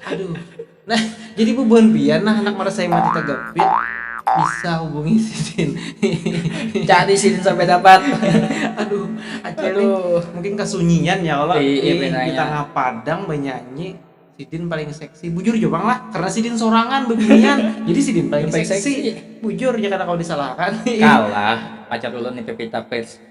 Aduh. Nah, jadi bubuhan pian nah anak marasai mati tagapit bisa hubungi sidin. Cari sidin sampai dapat. Aduh, acil ini Aduh. mungkin kasunyian ya Allah. Iya, Ih, pinanya. di tangah padang banyanyi sidin paling seksi. Bujur jua pang lah, karena sidin sorangan bebinian. jadi sidin paling, Paling seksi. seksi. Bujur ya kada kawa disalahakan. Kalah pacar ulun ni Pevita Pierce.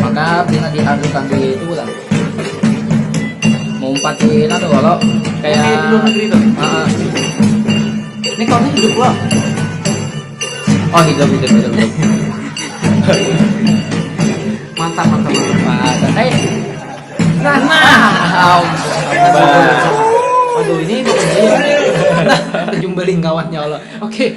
maka pina diadukan di itu lah mumpat di itu tuh kalau kayak di luar negeri tuh uh, ini kau hidup loh oh hidup hidup hidup, hidup. mantap mantap mantap eh nah nah aduh ini kok nah terjumbalin kawannya Allah oke okay.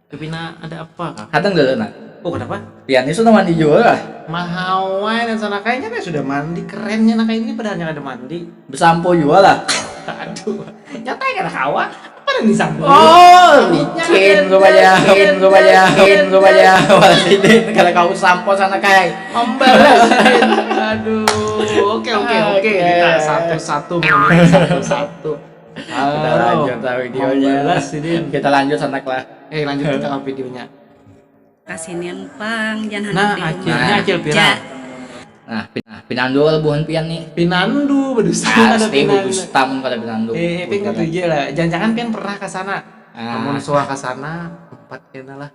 Pina ada apa kah? Hadang dulu nak. Oh kenapa? Pian ini sudah mandi jua kah? Mahawai dan sana kayaknya kayak sudah mandi kerennya naka ini padahalnya kada mandi. Besampo jua lah. Aduh. Nyatanya kada kawa. Apa nang disampo? Oh, licin rupanya, licin rupanya, licin rupanya. Walidin kada kawa sampo sana kay. Membalas. Aduh. Oke oke oke. Kita satu-satu satu-satu. Kita lanjut lah videonya. Jelas sidin. Kita lanjut sana kelas. Eh lanjut kita ke videonya. Kasinian pang jan handak nah, di rumah. Akhirnya acil pira. Nah, pin nah, pinandu kalau buhan pian nih. Pinandu, bedusta nah, ada pinandu. Bedusta mun kada pinandu. Eh, eh pin katuju lah. Jangan-jangan pian pernah ke sana. Ah. Amun suah ke sana, empat kena lah.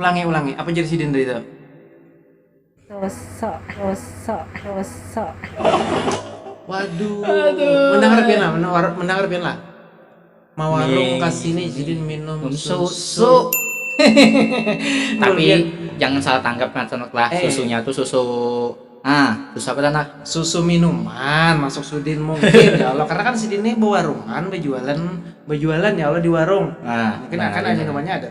Ulangi, ulangi, apa jar sidin tadi tu? Dosa, dosa, dosa. Waduh, mendangar pian lah, mendangar pian lah. Mawarung ka sini sidin minum susu. Tapi jangan salah tanggap kan Sanok lah, eh. susunya tuh susu Ah, susu apa tanah? Susu minuman masuk Sudin mungkin ya Allah karena kan Sudin ini berwarungan, berjualan, berjualan ya Allah di warung. Ah, mungkin akan ada minumannya ada.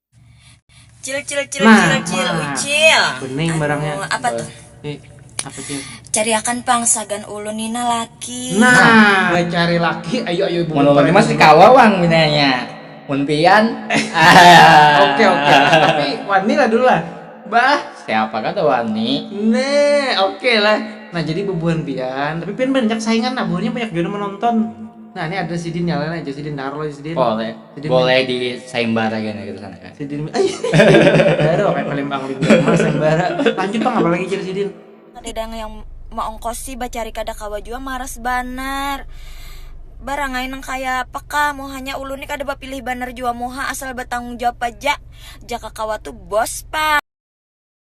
Cil cil cil Ma, cil cil ma. ucil. Bening barangnya. Anu, apa tuh? Eh, apa cil? Cariakan pang sagan ulun nina laki. Nah, bacari laki. Ayo ayo ibu. Mun ulun ni masih kawa pang pinanya. Mun pian. Oke oke lah, tapi wani lah dulu lah. Bah, siapa kada wani. Nah, oke lah. Nah, jadi bubuhan pian, tapi pian banyak saingan nah, buhannya banyak jua nang manonton. Nah, ini ada sidin nyala aja sidin taruh aja sidin. Boleh. Sidin Boleh di sayembara kan gitu sana kan. Sidin ay. Baru kayak Palembang Lingga Mas sayembara. Lanjut Bang apa lagi jadi sidin? Kadadang yang maongkosi bacari kada kawa jua maras banar. Barangai nang kaya apa kah muhanya ulun ni kada bapilih banar jua muha asal batanggung jawab aja jaka kawa tu bos pang.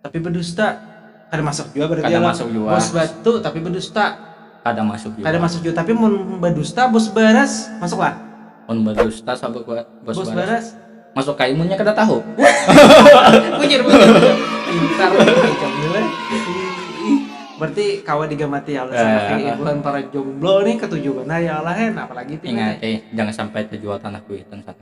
Tapi bedusta. Kada masuk jua berarti Kada masuk jua. Bos batu tapi bedusta. Kada masuk jua. Kada masuk jua tapi mun bedusta bos baras masuk lah. Mun bedusta sabuk bos baras. Bos baras. Masuk ka imunnya kada tahu. bujur bujur. Pintar Berarti kawa digamati ya Allah. Saya ibu antara jomblo nih ketujuh benar ya Allah hen apalagi pintar. Ingat eh jangan sampai terjual tanah kuitan.